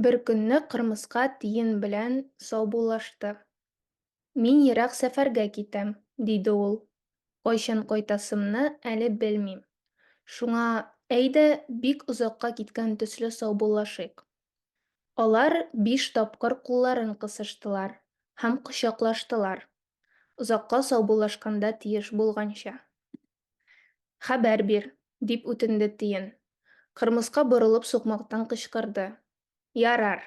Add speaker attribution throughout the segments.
Speaker 1: Бер көнне кырмыска тиен белән саубуллашты. Мин ерак сәфәргә китәм, диде ул. Кайчан кайтасымны әле белмим. Шуңа, әйдә, бик озакка киткән төсле саубуллашыйк. Алар биш тапкыр кулларын кысыштылар һәм кочаклаштылар, озакка саубуллашканда тиеш булганча. Хәбәр бир, дип үтенде Тиен. Кырмыска борылып сукмактан кычкырды. Ярар.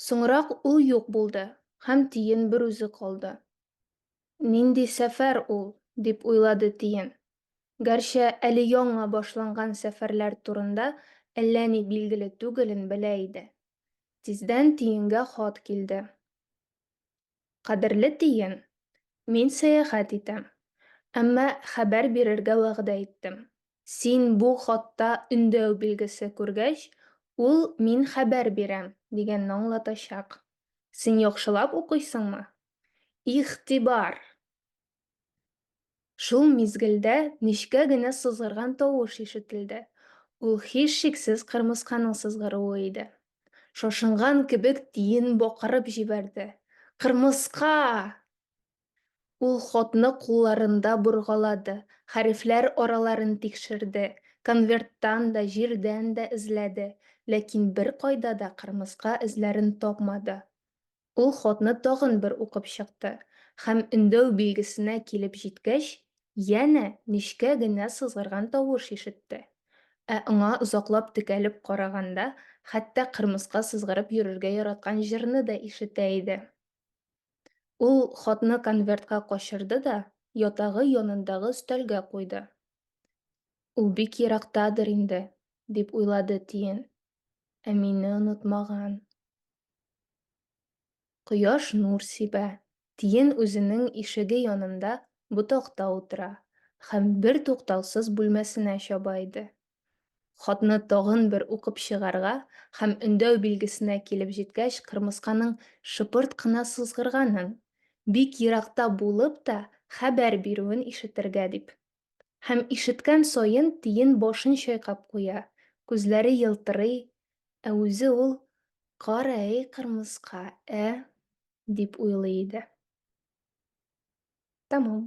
Speaker 1: Соңрак ул юк булды һәм Тиен берүзе калды. Нинди сәфәр ул, дип уйлады Тиен. Гәрчә әле яңа башланган сәфәрләр турында әллә ни билгеле түгелен белә иде. Тиздән Тиенгә хат килде. Кадерле тиен, мин сәяхәт итәм. Әмма хәбәр бирергә вәгъдә иттем. Син бу хатта өндәү билгесе күргәч, ул мин хәбәр бирәм, дигәнне аңлатачак. Син яхшылап укыйсыңмы? Игътибар! Шул мизгелдә нечкә генә сызгырган тавыш ишетелде. Ул һичшиксез кырмысканың сызгыруы иде. Шашынган кебек тиен бакырып җибәрде. Кырмыска! Ул хатны кулларында боргалады, хәрефләр араларын тикшерде, конверттан да, җирдән дә эзләде, ләкин беркайда да кырмыска эзләрен тапмады. Ул хатны тагын бер укып чыкты һәм өндәү билгесенә килеп җиткәч, янә нечкә генә сызгырган тавыш ишетте. Ә аңа озаклап текәлеп караганда, хәтта кырмыска сызгырып йөрергә яраткан җырны да ишетә иде. Ул хатны конвертка качырды да ятагы янындагы өстәлгә куйды. Ул бик ерактадыр инде, дип уйлады Тиен. Ә мине онытмаган. Кояш нур сибә. Тиен үзенең ишеге янында ботакта утыра һәм бертуктаусыз бүлмәсенә чаба иде. Хатны тагын бер укып чыгарга һәм өндәү билгесенә килеп җиткәч кырмысканың шыпырт кына сызгырганын, бик еракта булып та хәбәр бирүен ишетергә дип Һәм ишеткән саен тиен башын чайкап куя, күзләре елтырый, ә үзе ул, Кара әй кырмыска, ә? дип уйлый иде. Тәмам.